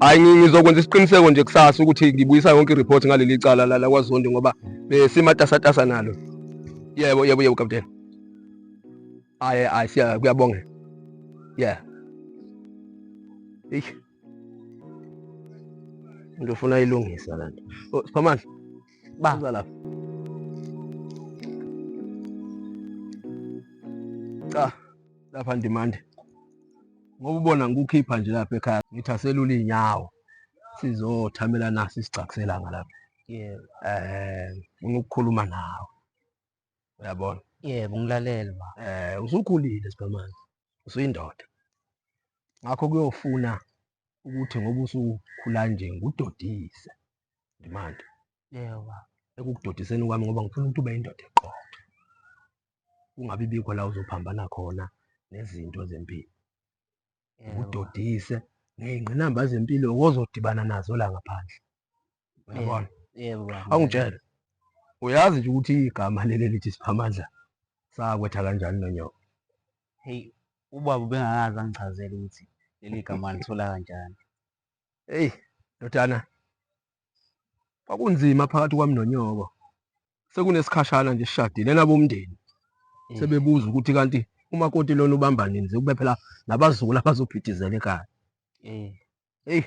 hayi ngizokwenza isiqiniseko nje kusasa ukuthi ngibuyisa yonke ireport ngaleli cala la lakwazondi ngoba besimatasatasa nalo yebo yebo yebo kapteni hayi hayi siya kuyabonga yeah eish ndofuna ilungisa la nto oh, siphamandla baza lapha cha lapha ndimande ngoba ubona ngikukhipha nje lapha ekhaya ngithi aselule iy'nyawo sizothamela naso isigcakiselanga lapha yebo um funa ukukhuluma nawe uyabona yebo ngilalele ba um usukhulile sibhamane usuyindoda ngakho kuyofuna ukuthi ngoba usukhula nje ngudodise ndimande yebo ba ekukudodiseni kwami ngoba ngifuna ukuthi ube yindoda eqotho kungabi bikho la uzophambana khona nezinto zempilo udodise ngey'ngqinamba zempilo ozodibana nazo la ngaphandle uyabona awungitshele uyazi nje ukuthi igama leli lithi siphamandla sakwetha kanjani nonyoko heyi ubaba ubengakazi angichazele ukuthi leli gama lithola kanjani eyi ndodana kwakunzima phakathi kwami nonyoko sekunesikhashana nje sishadile nabomndeni mm. sebebuza ukuthi kanti umakoti lona ubamba nini kube phela nabazukulu abazobhidizela ekhaya mm. eyi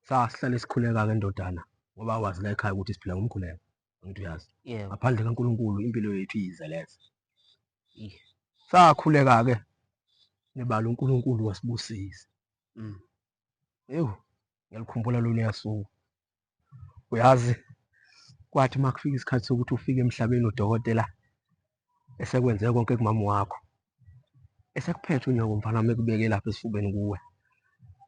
sasihlale sikhuleka-ke ndodana ngoba wazi la ekhaya ukuthi siphila ngomkhuleko angithi uyazi ngaphandle kankulunkulu impilo yethu iyizeleza sakhuleka-ke nebala unkulunkulu wasibusisa mm. ewu ngiyalikhumbula lona yasuku uyazi kwathi uma kufika isikhathi sokuthi ufike emhlabeni udokotela esekwenze konke kumama wakho esekuphethe unyoko mfana wami ekubeke lapha esifubeni kuwe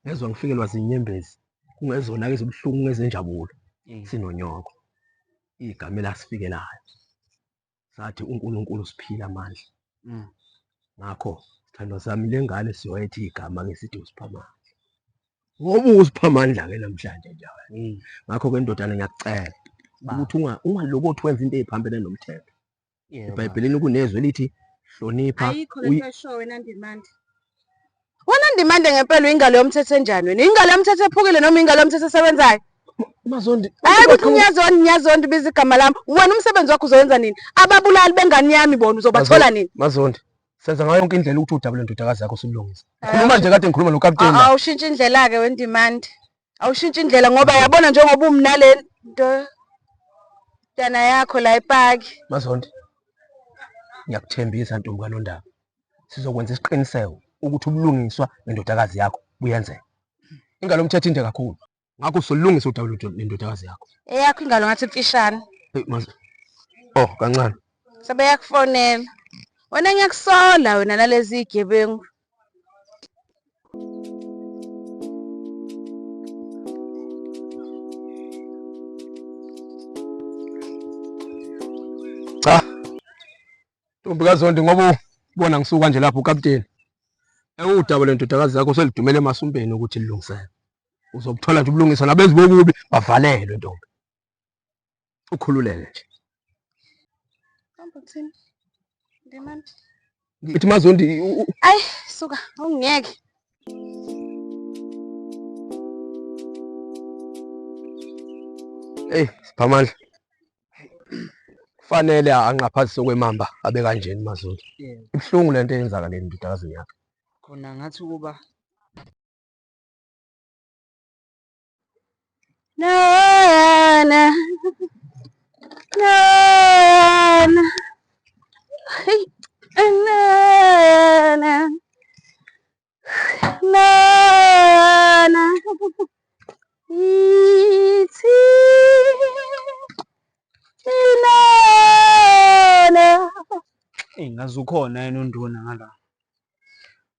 ngezwa ngifikelwa zinyembezi kungezona-ke ezibuhlungu ngezenjabulo sinonyoko igama elasifikelayo sathi uNkulunkulu usiphile amandla mm. ngakho sithandwa sami le ngane siyoyethi igama ngesithi usipha amandla ngoba usipha amandla ke namhlanje nje mm. ngakho ke ndodana ngiyakucela ukuthi ungalokothi wenza into eziphambene nomthetho ebhayibhelini kunezwi elithi hlonipha ayikho lento eshowe nandimandla Wena ndimande ngempela ingalo yomthetho enjani wena? Ingalo yomthetho ephukile noma ingalo yomthetho esebenzayo? Mazondi. Hayi ukuthi ngiyazondi ngiyazondi biza igama lami. Wena umsebenzi wakho uzowenza nini? Ababulali bengane yami bona uzobathola nini? Mazondi. Senza ngayo yonke indlela ukuthi udabule ndodakazi yakho silungise. Khuluma nje kade ngikhuluma nokapteni. Awushintshe indlela ke wendimandi. awushintshe indlela ngoba yabona njengoba umnale nto tana yakho la epaki mazonde ngiyakuthembisa ntombi kanondaba sizokwenza isiqiniseko ukuthi ubulungiswa nendodakazi yakho buyenzeka ingalo mthetho inde kakhulu ngakho solungisa udaba lendodakazi yakho eyakho ingalo ngathi mfishane oh kancane sebeyakufonela wena ngiyakusola wena nalezi igebengu cha ntombi kazondi ngoba ubona ngisuka nje lapho ukapteni ewudaba lendodakazi yakho selidumele emasumpeni ukuthi lilungisele uzobuthola nje ubulungiswa nabenzi bokubi bavalelwe ntombi ukhululeke nje hamba kuthini ndimani ngithi mazondi ayi suka awungeke Hey, Siphamandla. Kufanele anqaphazise kwemamba abe kanjeni Mazulu. Yebo. Ibhlungu lento eyenzakaleni ndodakazini yakhe. Khona ngathi ukuba Nana. Nana. Hey. Nana. Nana. Ithi. Inana. Eyi ngaze ukhona yena unduna ngala.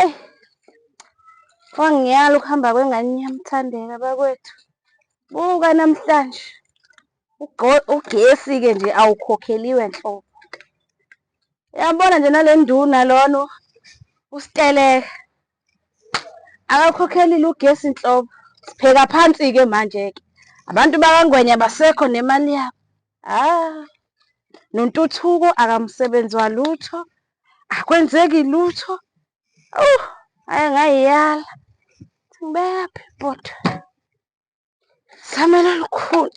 Ey, wangiyala ukuhamba kwengane yami Thandeka bakwethu. Buka namhlanje ugesi-ke nje awukhokheliwe nhlobo. Yabona nje nale nduna lona usiteleka akakhokhelile ugesi nhlobo. Sipheka phansi-ke manje-ke abantu bakangwenya basekho nemali yabo. Ah, nontuthuko akamsebenzi walutho akwenzeki lutho oh aye ngayiyala ngibeyaphi bhuti samela lukhulu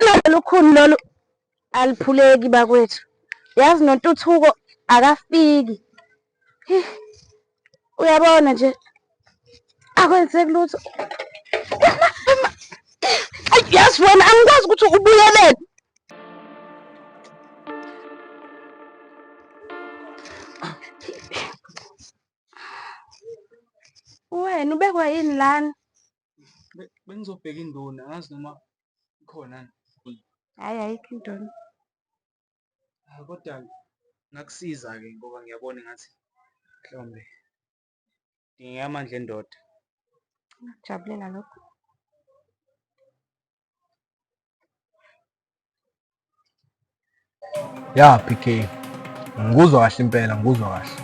lona lukhulu lolu aliphuleki bakwethu yazi nontuthuko akafiki uyabona nje akwenzeki lutho yazi wena angikwazi ukuthi ubuyelele wena ubekwa yini lana bengizobheka induna ngazi noma ikhona hayi ayikho induna ah, kodwa ngakusiza-ke ngoba ngiyabona ngathi mhlawumbe dingeka amandla endoda jabulela lokho ya pk ngikuzwa kahle impela ngikuzwa kahle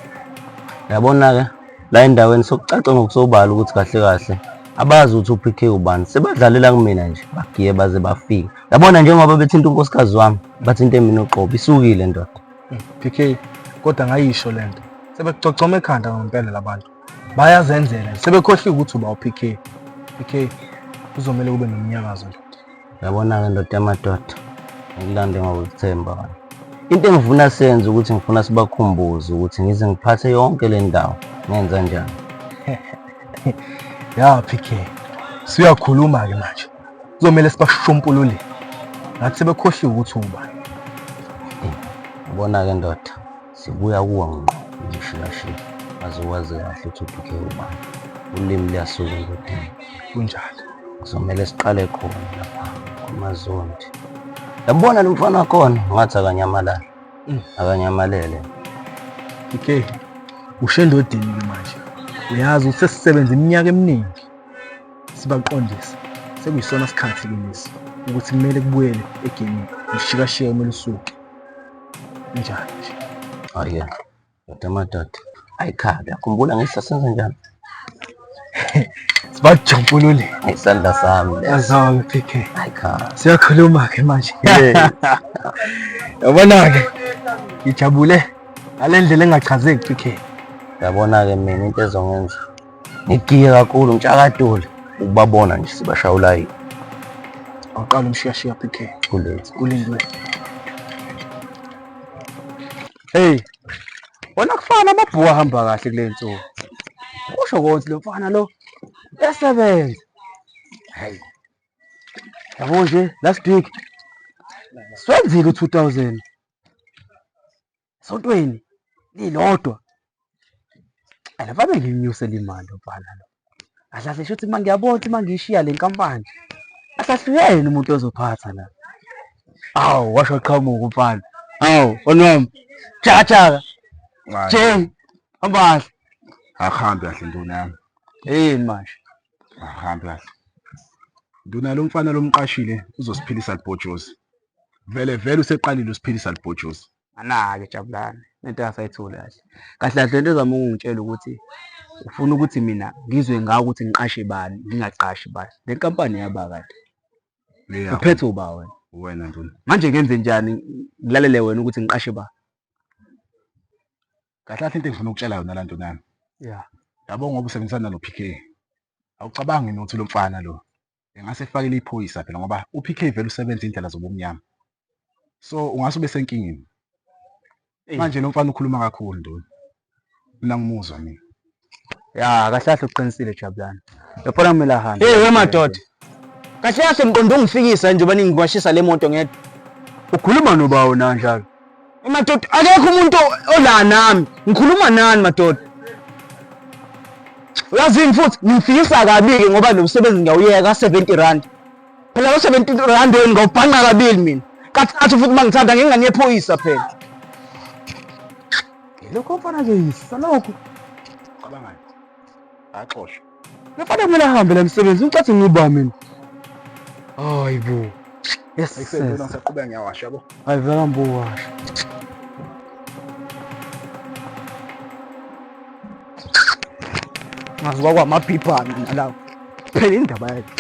yabona-ke la endaweni sokucaca ngokusobala ukuthi kahle kahle abazi ukuthi uPK ubani sebadlalela kumina nje bagiye baze bafike yabona njengoba bethinta unkosikazi wami bathi into emini uqobo isukile ndoda hmm, PK kodwa ngayisho lento sebekucocoma ekhanda ngempela labantu bayazenzela sebekhohle ukuthi uba uPK PK kuzomele kube nomnyakazo nje yabona-ke ndoda yamadoda ngilande ngokuthemba wena into engifuna senze ukuthi ngifuna sibakhumbuze ukuthi ngize ngiphathe yonke le ndawo ngenza njani ya PK siyakhuluma-ke manje kuzomele sibashumpululile ngathi sebekhohliwe ukuthi ungubani ubona-ke ndoda sibuya kuwa ngqo ngishiyashiya aze wazi kahle ukuthi uduke ubani ulimi luyasuka endodeni kunjalo kuzomele siqale khona lapha kumazondi yabona lo mfana wakhona ngathi akanyamalala mm. akanyamalele okay ushendodini manje uyazi usesisebenza iminyaka eminingi Sibaqondise, sekuyisona sikhathi ke lesi ukuthi kumele kubuyele egemini ushikashiya kumele usuke njani nje hayi yadwa amadada ayikhale akhumbula ngehla senza njani sibajubulule ngesandla sami yazami PK ayikhale siyakhuluma ke manje yabona ke ngijabule ngale ndlela engachazeki PK yabona ke mina into ezongenza Ngigiye kakhulu ngitshakadule ukubabona nje sibashaya ulayini. Awuqala umshiyashiya PK. Kulezi. Kulindwe. Hey. Wona kufana amabhuku ahamba kahle kule nsuku. Kusho konke lo mfana lo esebenza. Hey. Yabo nje last week swenzile u2000 esontweni lilodwa and fanele nginyuse limali ubhala lo ahlahle shuthi uma ngiyabona ukuthi uma ngiyishiya le nkampani ahlahluyeni umuntu ozophatha la awu washo qhamuka umfana awu onwami jajaka jeng ambahle akuhambi kahle nduna yami yini manje akuhambi kahle nduna lo mfana lomqashile uzosiphilisa libhojozi vele vele useqalile usiphilisa libhojozi anake jabulani lento yasayithuli kahle kahle kahle lento ezama ukungitshela ukuthi ufuna ukuthi mina ngizwe ngawo ukuthi ngiqashe bani ngingaqashi bani le nkampani yaba kade Leya, uphethe uba wena wena nduna manje ngenze njani ngilalele wena ukuthi ngiqashe ba kahle kahle into engifuna ukutshela yona la nduna yami ya yabo ngoba usebenzisana nalo PK awucabangi nokuthi lo mfana lo engase efakele iphoyisa phela ngoba uPK vele usebenza indlela zobumnyama. So ungase ube senkingeni. Manje lo mfana ukhuluma kakhulu nduna. Mina ngimuzwa mina. Ya kahle kahle uqinisile Jabulani. Yabona kumele ahambe. Hey wemadoda. Kahle kahle ngiqonde ungifikisa njengoba ningikwashisa le moto ngedwa. Ukhuluma nobawo na njalo? Madoda akekho umuntu ola nami. Ngikhuluma nani madoda? Uyazini futhi ngifikisa kabili ngoba lo msebenzi ngiyawuyeka 70 rand. Phela lo 70 rand wena ngawubhanqa kabili mina. Kathathu futhi mangithanda ngingane yephoyisa phela. Lokho mfana ke yisa lokho. Cabangani? Axoshwe. Ngifana kumele ahambe la msebenzi ucathi ngiba mina. Hayi bo. Yes. Ekuseni ngisaqhubeka ngiyawasha yabo. Hayi vela mbo washa. Ngazi wakwa maphipha mina lawo. Phela indaba yakhe.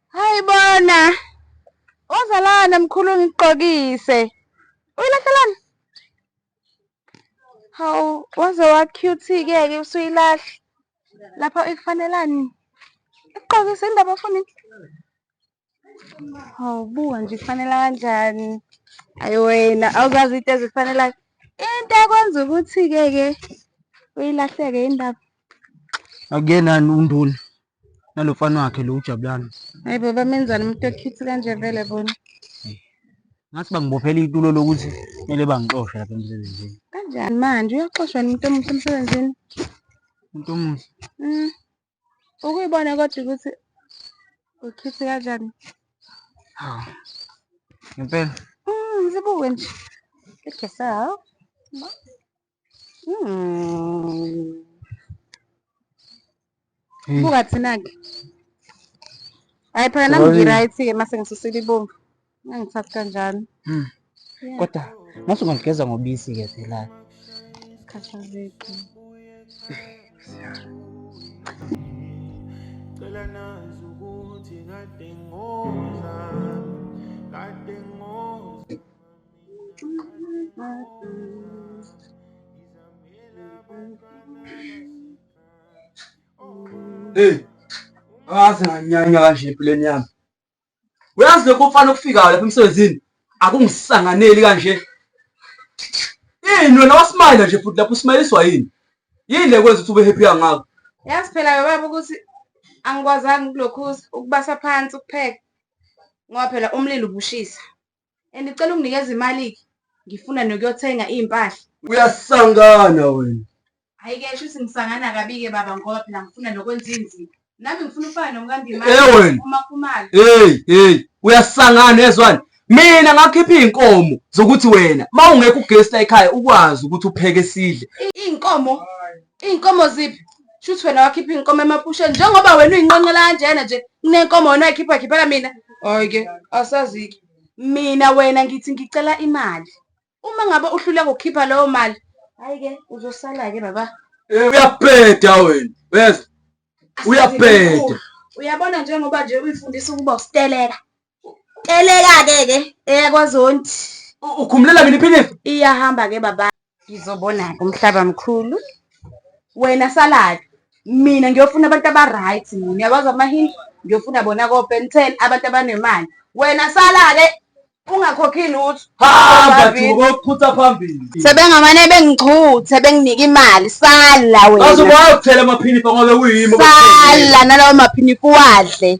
Hayi bona. Ozalana mkhulu ngigqokise. Uyilahlelan? Hawu waze wa cute-ke ke usuyilahla. Lapha ikufanelani? Iqokisa indaba funi. Hawu buka nje kufanela kanjani. Ayi wena awuzazi into ezifanelayo. Into ekwenza ukuthi-ke ke uyilahleke indaba. akuyenani unduna nalo mfana wakhe lo ujabulana hayi baba menzani umuntu okhithi kanje vele bona ngathi bangibophela itulo lokuthi kumele bangixoshe lapha emsebenzini kanjani manje uyaxoshwa umuntu omuhle emsebenzini umuntu omuhle mm. ukuyibona kodwa ukuthi ukhithi kanjani hawu ngempela mm, ngizibuke nje egesawo Hmm. Hey. Buka thina-ke. Hayi phela nami Sorry. ngi-right-ke uma sengisusile ibomvu. Ngangithatha kanjalo. Mm. Yeah. Kodwa mase ungaligeza ngobisi ke phela. Khathazeki. Cela nazi ukuthi kade ngoza, kade ngoza. Hey, awazi nganyanya kanje empilweni yami. Uyazi lokho mfana okufikayo lapha emsebenzini akungisanganeli kanje. Yini wena wasmayila nje futhi lapho usmayiliswa yini? Yini le kwenza ukuthi ube happy kangaka? Yazi phela ke baba ukuthi angikwazanga ukulokhuza ukubasa phansi ukupheka ngoba phela umlilo ubushisa. and cela unginikeza imali-ke ngifuna nokuyothenga iy'mpahla uyasangana wena hhayi-ke sho ukuthi ngisangana kabi-ke baba ngoba phela ngifuna nokwenza iy'nzima nami ngifuna ufana nomkandimali Eh, wena. umakhumalo heyi heyi uyasangana ezwani mina ngakhipha iy'nkomo zokuthi wena ma ungekho ugesi la ekhaya ukwazi ukuthi upheke sidle iy'nkomo Iy'nkomo ziphi? Shuthi wena wakhipha iy'nkomo emapusheni njengoba wena uyinqenqela kanjena nje kunenkomo wena wayikhipha khiphela mina hhayi-ke asazike mina wena ngithi ngicela imali uma ngabe uhluleka ukukhipha leyo mali hhayi-ke uzosala-ke baba eh, uyabheda wena uyeza uyabheda uyabona njengoba nje uyifundisa ukuba usiteleka Teleka ke ke eyakwaZondi. Ukhumulela mina iphinifa? Iyahamba ke baba. Ngizobona ke umhlaba mkhulu. Wena saladi. Mina ngiyofuna abantu abaright mina. Uyakwazi amahindu? Ngiyofuna bona ko Ben 10 abantu abanemali. Wena sala ke ungakhokhi lutho. Hamba duko phutha phambili. Sebengamane bengichuthe benginika imali sala wena. Bazokwazi ukuthela amaphinifa ngoba uyimo. Sala nalawo maphinifa uwadle.